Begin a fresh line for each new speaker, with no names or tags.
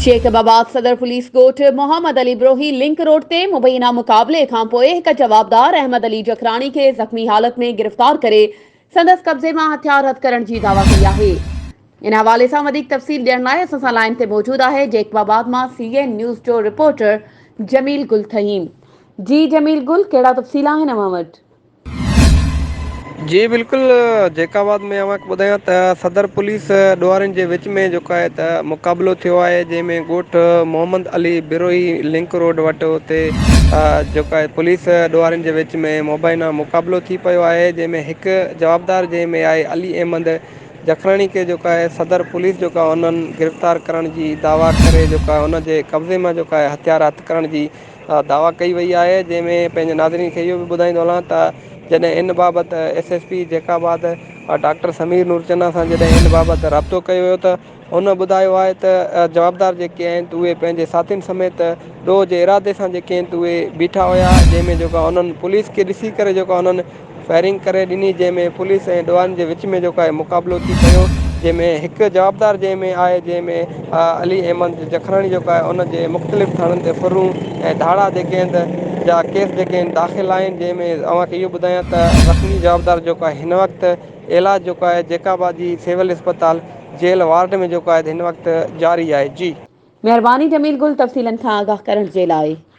Jacob آباد صدر police ڳوٺ محمد علي بروهي لنڪ روڊ تي مبينا مقابلي کانپوء هڪ جوابدار احمد علي جکراڻي کي زخمي حالت ۾ گرفتار ڪري سندس قبضي مان هٿيار هٿ ڪرڻ جي دعويٰ ڪئي آهي ان حوالي سان وڌيڪ تفصيل ڏيڻ لاء اسان سان لائين تي موجود آهي جيڪب آباد مان سي اين نيوز جو رپورٽر جميل گل ٿهيم جي جميل گل ڪهڙا تفصيل آهن اوهان وٽ
جي بلڪل جيڪب آباد ۾ اوهانکي ٻڌايان ته صدر پوليس ڏوهارين جي وچ ۾ جيڪو آهي ته مقابلو ٿيو آهي جنهن ۾ ڳوٺ محمد علي بروهي لنڪ روڊ وٽ اتي جيڪو آهي پوليس ڏوهارين جي وچ ۾ مبينا مقابلو ٿي پيو آهي جنهن ۾ هڪ جوابدار جنهن ۾ آهي علي احمد جکراڻي کي جيڪو آهي صدر پوليس جيڪو آهي انهن گرفتار ڪرڻ جي دعويٰ ڪري جيڪو آهي ان جي قبضي مان جيڪو آهي هٿيار هٿ ڪرڻ جي دعويٰ ڪئي وئي آهي جنهن ۾ پنهنجي ناظرين کي اهو به ٻڌائيندو هلان ته جڏهن ان بابت S S P Jacobabad doctor Sameer Norchana سان جڏهن ان بابت رابطو ڪيو ويو ته هن ٻڌايو آهي ته جوابدار جيڪي آهن ته اهي پنهنجي ساٿين سميت ڏوهه جي ارادي سان جيڪي آهن ته اهي بيٺا هيا جنهن ۾ جيڪو انهن پوليس کي ڏسي ڪري جيڪو انهن فائرنگ ڪري ڏني جنهن ۾ پوليس ۽ ڊوان جي وچ ۾ جيڪو آهي مقابلو ٿي پيو جنهن ۾ هڪ جوابدار جنهن ۾ آهي جنهن ۾ علي احمد جکراڻي جيڪو آهي ان جي مختلف ٿاڻن تي ڦرون ۽ ڌاڙا جيڪي آهن ته جا ڪيس جيڪي آهن داخل آهن جنهن ۾ اوهان کي اهو ٻڌايان ته زخمي جوابدار جيڪو آهي هن وقت علاج جيڪو آهي جيڪب آباد جي سول اسپتال جيل وارڊ ۾ جيڪو آهي هن وقت
جاري
آهي
جي.
مهرباني جميل
گل تفصيلن
کان
آگاهه
ڪرڻ
جي
لاء.